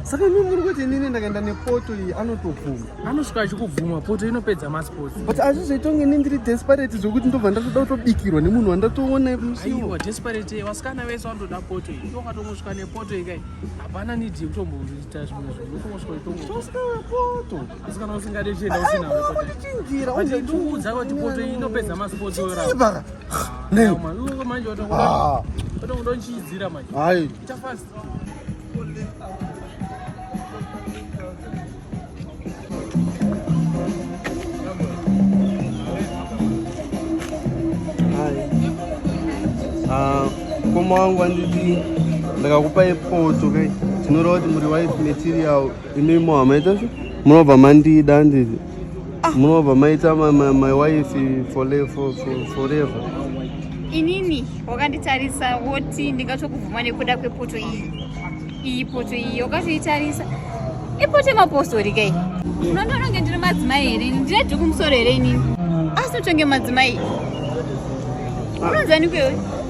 saka imi muri kuti inini ndakaenda nepoto iyi anotobvuma anosvika achikubvuma poto inopedza masports but azvizoitonge ini ndiri desperate zvekuti ndobva ndatoda kutobikirwa nemunhu wandatoona aiwa desperate vasikana vese vanotoda poto iyi ndo ukatongosvika nepoto iyi kai hapana nidi yekutomboita zvimwe zvinhutoosvikanepoto asikana usingade chienda usinaaichinjira but ndikuudza kuti poto iyi inopedza masports oraiwa manje watongoda ah. kuchiidzira manje ita fast mukoma wangu anditi ndakakupa epoto kai tinoreva kuti muri wife material inoimo hamaita zvo munobva mandida anditi ah. munobva maita my wife forever inini wakanditarisa woti ndingatokubvuma nekuda kwepoto iyi iyi poto iyi wakatoitarisa ipoto yemapostori kai unondononge ndiri madzimai here ini ndine dhuku musoro here inini asi utonge madzimai unonzani kwewe